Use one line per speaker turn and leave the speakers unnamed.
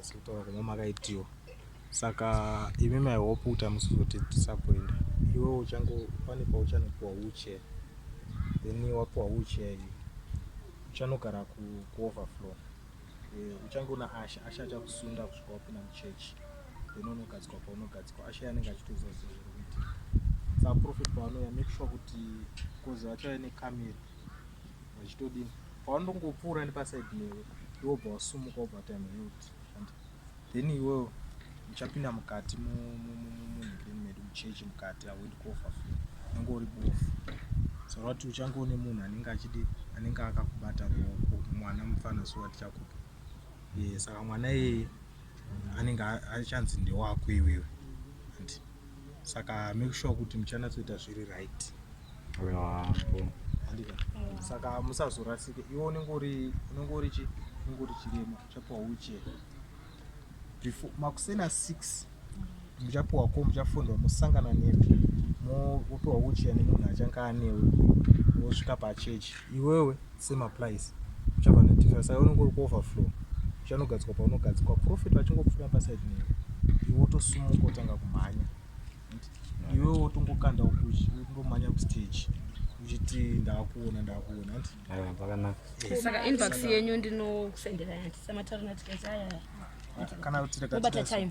sekutaura kumwe makaitiwa saka imi mai hope kuti hamusi kuzotidisappoint iwe uchango pane pauchanopiwa wheelchair then wapiwa wheelchair iyi uchanogara kuoverflow eh, uchangoona asha asha achakusunda kusvika wapinda muchurch then unogadzikwa paunogadzikwa asha yanenge achitoziva zvinhu zviri kuitika saprofet paanouya make sure kuti bcause vachave nekamera vachitodini pawanongopfuura nepaside newe iwe ubva wasumuka ubva wati am healed and then iwewo uchapinda mukati munhikireni medu muchechi mukati hauendi kofa fu unenge uri bofu saka kuti uchange une munhu anenge achidi anenge akakubata ruoko mwana mufana so atichakupa saka mwana iyeye anenge achanzi ndewako iwewe saka make sure kuti muchanatsoita zviri right handika saka musazorasike iwe unenge uri unenge uri chi unenge uri chirema uchapiwa wheelchair before makuseni asix muchapiwa ko muchafundwa mosangana nemi mopiwa wheelchair nemunhu achange anewe wosvika pachechi iwewe semaplice uchava nedifference saka unenge uri kuoverflow uchanogadzikwa paunogadzikwa profit vachingopfuura paside newe iwe wotosumuka otanga kumhanya iwe wotongokanda ukumhanya kustage uchiti ndakuona ndakuona saka inbox yenyu ndinosendera yati samatarinatikazaya kana kuti rekatikati